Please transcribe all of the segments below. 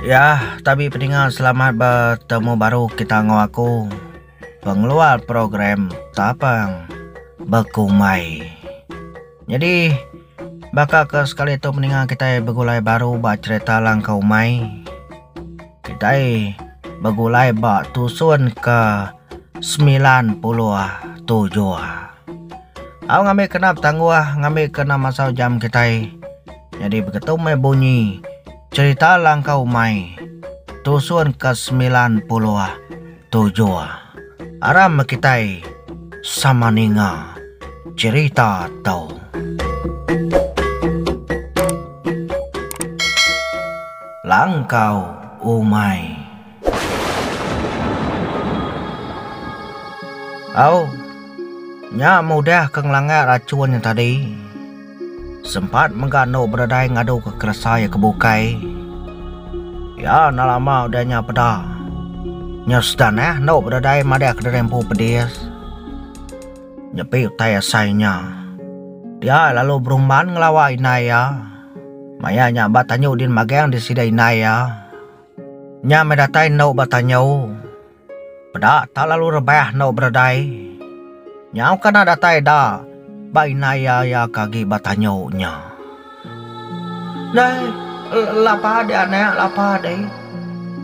Ya, tabi pedinga selamat bertemu baru kita ngau aku. Pengeluar program tapang berkumai. Jadi, baka ke sekali tu peninga kita begulai baru ba cerita langkau umai. Kitai begulai ba tusun ke semilan puluh tujuh. Au ngambi kena betangguh ngambi ke enda masa ujam kitai nyadi begetu meh bunyi cherita langkau umai tusun ke semilan puluh. Tujuh. Aram kitai sama ninga cherita tu. Langkau umai. Au. Nya mudah ke ngelanggar rachun nya tadi. Sempat mega endo bededai ngadu ke keresa iya ke bukai. Iya enda lama udah nya peda. Nya sedan neh endo bededai madah kediri empu pedis. Nyepi utai asai nya. Dia lalu berumban ngelawa indai iya. Maya nya ba tanyu din magang di sida indai iya. Nya meh datai endo ba tanyu. Peda tak lalu rebah enggau Berdai. Nyau kana datai da ba indai iya iya ke agi ba tanyu nya. Dai, lapa deh anak, lapa deh.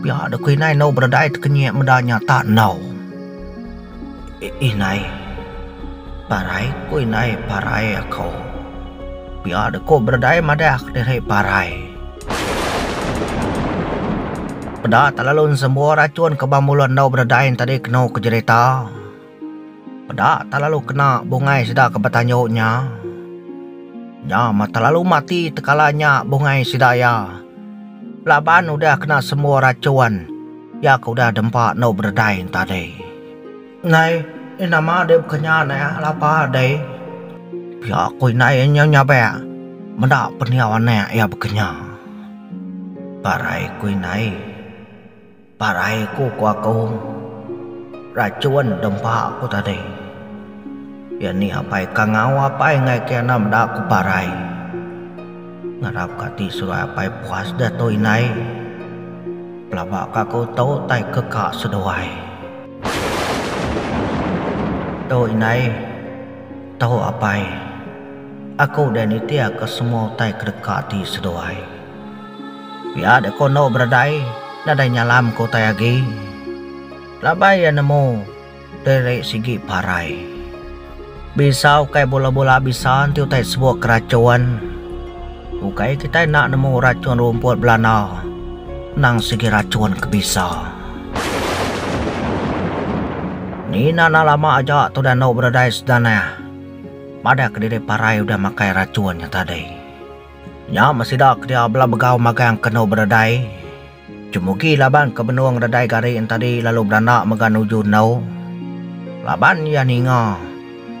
Pia deh ku indai enggau Berdai tekenyek meda nya tak enggau. Indai, parai ku indai parai aku. Pia deh ku Berdai madah diri parai. Peda Talalun sembuh rachun ke ba mulut endu bededai tadi kenu ke jerita. Peda Talalu kena bungai sida ke betanju nya. Nya mah Talalu mati tekala nya bungai sida iya laban udah kena sembuh rachun iya ke udah dempa endu bededai tadi. Nai eh nama deh bekenya neh lapa deh. Pia ku indai eh nyau nyabek meda pendiau anek iya bekenya. Parai ku indai. Parai ku ko akung. Rachun deh empa ku tadi. Iya ni apai kangau apai ngai ke enda meda ku parai. Ngarap ka ti surai apai puas deh tu indai. Pelaba ka ku tu tai ke ka seduai. Tu indai, tu apai. Aku deh nitihka semua utai ke deka ati seduai. Pia deh ku endo beredai nadai nyalamka utai agi. Laban iya nemu diri sigi parai. Bisa ukai bula-bula bisa enti utai sebuk ke rachun. Ukai kitai enda nemu rachun rumput belana, endang sigi rachun ke bisa. Mina enda lama aja tudah endo beredai sedanah. Madahka diri parai udah makai rachun nya tadi. Nya meh sida ke dia bela begau magang ke endo beredai. Jemugi laban ke benung redai gari entadi lalu beranda mega nuju endu, laban iya ninga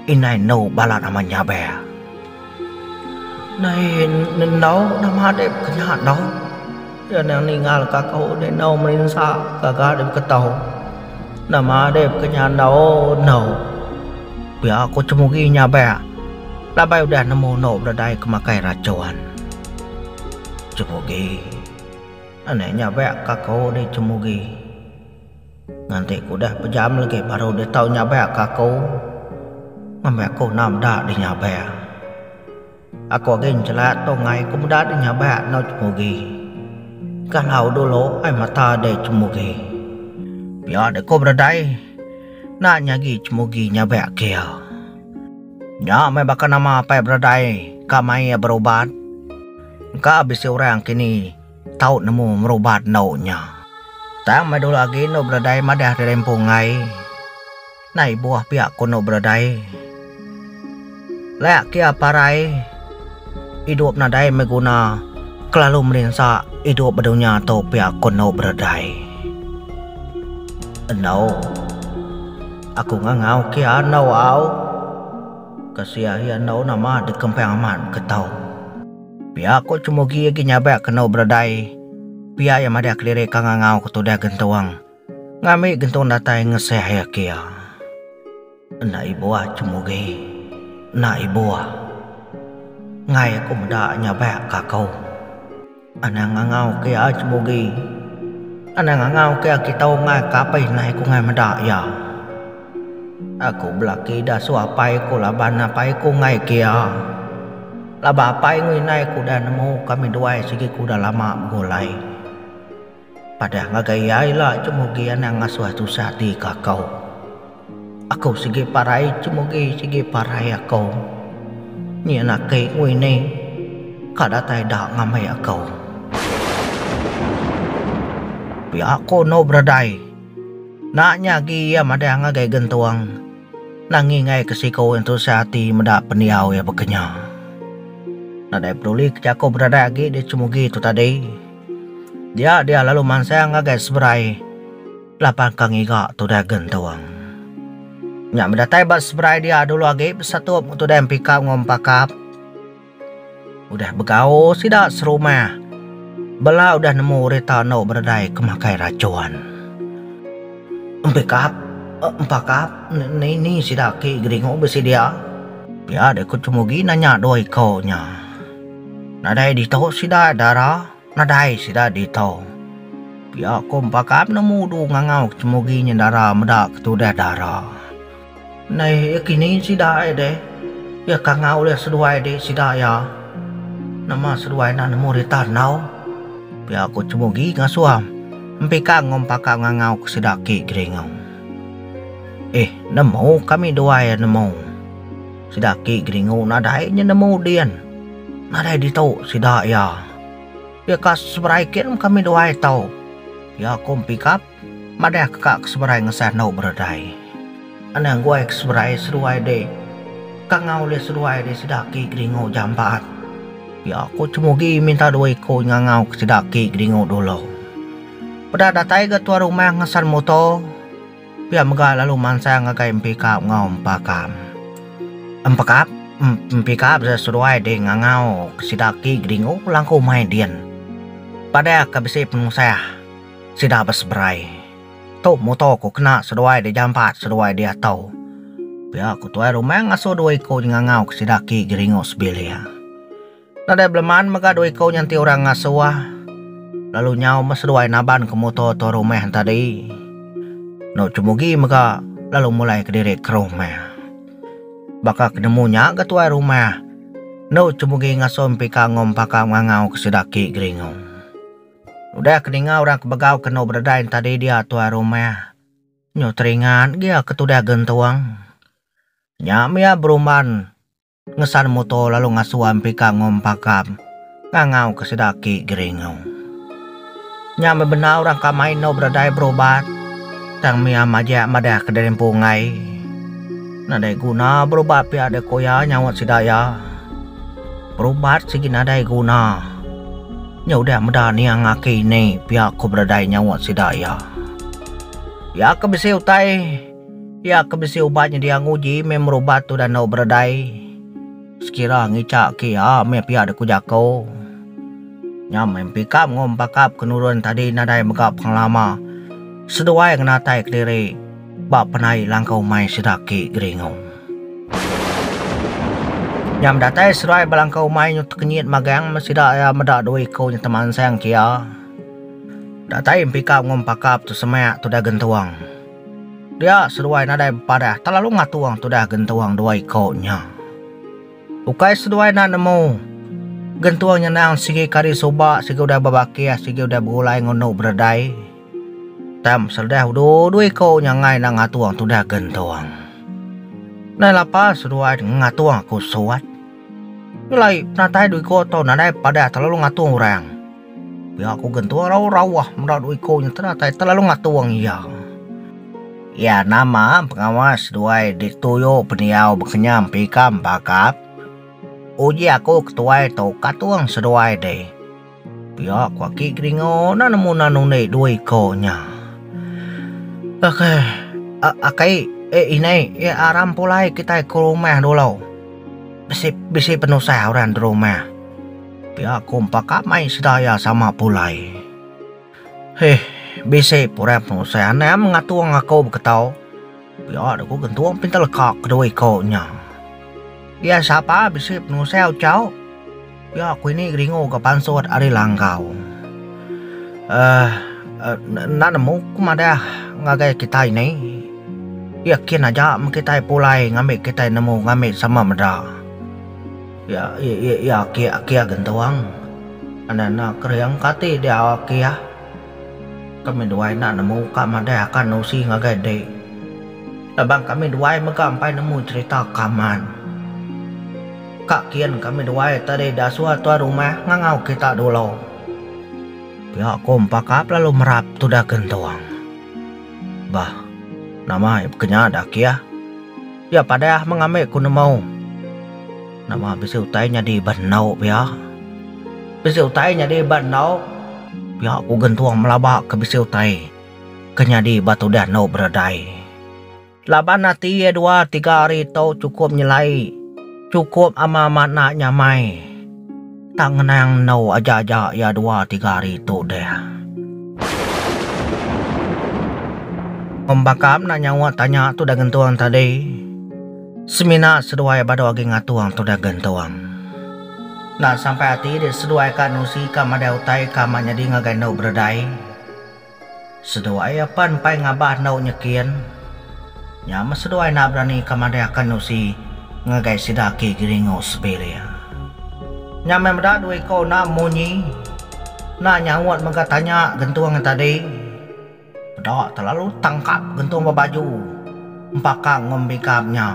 indai endu balat amat nyaber. Indai endu nama dek bekenya endu, iya nang ningalka aku dek endu merinsa gaga dek beketu. Nama dek bekenya endu endu. Pia aku Jemugi nyaber laban udah nemu endu beredai ke makai racun. Jemugi. Anak nya bak ka kau di Cemugi. Nganti ku udah bejam legi baru dia tau nyabak ka aku. Ngambi aku enam meda di nyabak. Aku agi njelat tu ngai ku meda di nyabak enggau Cemugi. Galau dulu ai mata di Cemugi. Pia deh ku beredai. Enda nyagi Cemugi nyabak ke iya. Nya meh baka nama apai beredai ka mai iya berubat. Engka bisi orang kini tau nemu merubat endu nya. Tang meh dulu agi endu beledai madah diri empu enggai. Nai ibuh pia ku endu beledai. Laya kia parai idup nadai meh guna kelalu melinsa idup ba dunya tu pia ku endu beledai. Endu aku ngangau kia endu au. Ke sia ahi andau nama dikempang amat beketau. Pia ko Cemugi agi nyabak ke endu beredai pia iya madah kelirik ka ngangau ke tudah gentung ngambi gentung datai ngesah iya ke iya. Enda ibuh Cemugi enda ibuh. Enggai aku meda nyabak ka ko. Anang ngangau ke ai Cemugi. Anang ngangau ke aki tau ngai ke apai nai ku ngai meda iya. Aku belaki ida su apai ku laban apai ku ngai ke iya. Laban apai enggau indai ku udah nemu kami duai sigi ku udah lama begulai. Padah ngagai iya ila Chemugi anang ngasuh tusah ati ke aku. Aku sigi parai Chemugi sigi parai aku. Nyin aki Nguini ka datai da ngambi aku. Pia aku eno beredai. Nak nya agi iya madah ngagai gentung. Nangi ngai ke siku ngan tusah ati meda pendiau iya beke nya. Nadai peduli ke jaku beredai agi di Chemugi tu tadi. Dia dia lalu mansang ngagai seberai lapan ka ngiga tudai gentung. Nya meh datai ba seberai dia dulu agi besatup enggau tudai empikap enggau empakap. Udah begau sida serumah bela udah nemu rita endo beredai ke makai rachun. Empikap empakap ne ne ni sida aki geringu bisi dia. Pia deh ku Chemugi nanya dua iku nya. Nadai ditu sida dara, nadai sida ditu. Pia ko empaka penemu du ngangau ke temugi nyendara meda ke tudah dara. Neh iya kini sida ai deh. Iya kangau ulih seduai dik sida iya. Nama seduai enda nemu rita enggau? Pia ko temugi ngasuh empika enggau empaka ngangau ke sida ki Geringo. Eh nemu kami duai iya nemu. Sida ki geringu nadai nya nemu din. Nadai ditu sida iya. Iya ka seberai kin kami duai tau. Iya ku Empikap madah ke ka ke seberai ngesah enu beredai. Anang guai ke seberai seduai dik. Ka ngau ulih seduai dik sida ki geringu jambat. Iya ku Cemugi minta dua iku nyengangau ke sida ki geringu dulu. Peda datai ga tuan rumah ngesan muto. Pia mega lalu mansang ngagai empi kap enggau empa kam. Empekap, empi kap sida seduai ding ngangau ke sida ki geringu langku mai din. Padah ke bisi penusah, sida beseberai. Tu muto ku kena seduai di jampat seduai di ato. Pia ku tuai rumah ngasu dua iku je ngangau ke sida ki geringu sebilik. Nadai beleman mega dua iku nyanti orang ngasuh lalu nyau meh seduai naban ke muto tu rumah tadi. Eno Chemugi mega lalu mulai kediri ke rumah. Baka ke nemu nya ga tuai rumah, eno Chemugi ngasuh Empika enggau Empaka mengangau ke sida aki Geringo. Udah ke ninga orang ke begau ke eno bededai tadi dia tuai rumah, nyu teringat gia ke tudah gentung. Nya mih iya berumban. Ngesan muto lalu ngasuan pika ngom pakam ngangau ke sida aki Geringo. Nya meh bendar orang ka mai endur bedadai berubat tang mia majak madah ke diri empu enggai. Nadai guna berubat pia deh ko iya nyaut sida iya. Berubat sigi nadai guna. Nya udah meda nia ngaki ini pia ko bedadai nyaut sida iya. Iya ke bisi utai. Iya ke bisi ubat nyedia nguji meh merubat tudah enda beredai sekira ngica ke iya meh pia de ku jako. Nya meh empikap enggau empakap ke nurun tadi nadai mega pengelama seduai ngenatai kediri ba penai langkau mai sida ake Geringo. Nya medatai seduai ba langkau mai nyu tekenyit magang meh sida iya meda dua iko nyet temansang ke iya. Datai empikap enggau empakap tu semak tudah gentung. Dia seduai nadai bepadah telalu ngatung tudah gentung dua iko nya. Ukai seduai enda nemu, gentung nya endang sigi ke ari suba sigi udah bebakih sigi udah begulai ngundu beredai. Tam seledah udu dua iko nya enggai enda ngatung tudah gentung. Nai lapa seduai ngatung aku suat. Nyelai penatai dua iko tau nadai padah telalu ngatung orang. Pia ku gentua rau rauh meda dua iko nya tenatai telalu ngatung iya. Iya nama pengawa seduai dituyu pendiau bekenyam pika bakap. Uji aku ketuai tau katung seduai deh. Pia ku aki Keringo enda nemu nan undi dua iko nya. Akai akai eh inai eh aram pulai kitai ke rumah dulu. Bisi bisi penusah orang di rumah. Pia ku empa kamai sedaya sama pulai. Heh, bisi pura penusah anang ngatung aku beketau. Pia deh ku gentung pintar leka kedua iko nya. Dia sapa bisi penusah ucau. Pia ku ini geringu ga pansut ari langkau. Uh enda nemu ku madah ngagai kitai ni. Iya kin aja men kitai pulai ngambi kitai nemu ngambi sama meda. Ya ya ya kia kia gentuang. Anak anak kering kati dia kia. Kami duai enda nemu ka madai akan usi ngagai dik. Laban kami duai mega empai nemu cerita kaman. Ka kin kami duai tadi diasuh tuai rumah ngangau kita dulu. Pia ko empakap lalu merap tudah gentuang. Bah nama ia kenyah dah kia. Pia padah mengambi ku nemu. Nama bisi utai nyadi ba endu pia? Bisi utai nyadi ba endu pia ku gentung melaba ke bisi utai ke nyadi ba tudah endu beredai. Laban ati iya dua tiga hari tu chukup nyelai, chukup ama amat enda nyamai. Tang ngenang endu aja-aja iya dua tiga hari tu deh. Pembaka meda nyaut tanya tu deh gentung tadi. Semina seduai badu agi ngatung tu deh gentung. Enda sampai ati deh seduai ka nusi ka madai utai ka ma nyadi ngagai endu beredai. Seduai apan empai ngabah endu nyekin nya meh seduai enda berani ka madai akan usi ngagai sida aki Giringo Sebilia. Nya meh meda dua iko enda munyi enda nyaut mega tanya gentung tadi peda telalu tangkap gentung ba baju empakang enggau embigam nya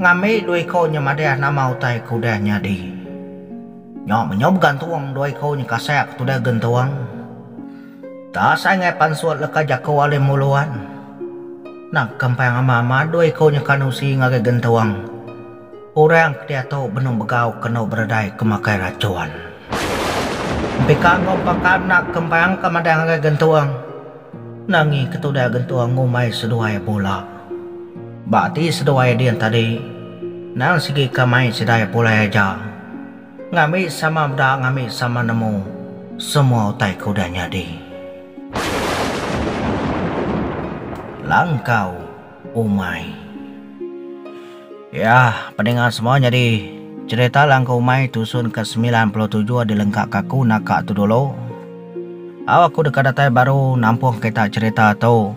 ngambi dua iko nya madai nama utai ke udah nyadi. Nya menyau begantung dua iku nya kasah ke tudah gentung. Tang asai ngai pansut leka jaku Alim Muluan. Nang kempang ama-ama dua iku nya kan usi ngagai gentung. Orang ke diatu benung begau kenu beredai ke makai racun. Empika enggau empaka enda kempang ke madah ngagai gentung. Nangi ke tudah gentung ngumbai seduai bula. Ba ati seduai din tadi, nang sigi ka mai sidai pulai aja. Ngambi sama meda ngambi sama nemu semua utai ke udah nyadi. Langkau umai. Ya, pedinga semua nyadi cherita langkau umai tusun ke semilan puluh tujuh dilengka ka aku naka tu dulu. Au aku deka datai baru nampung kita cherita tu.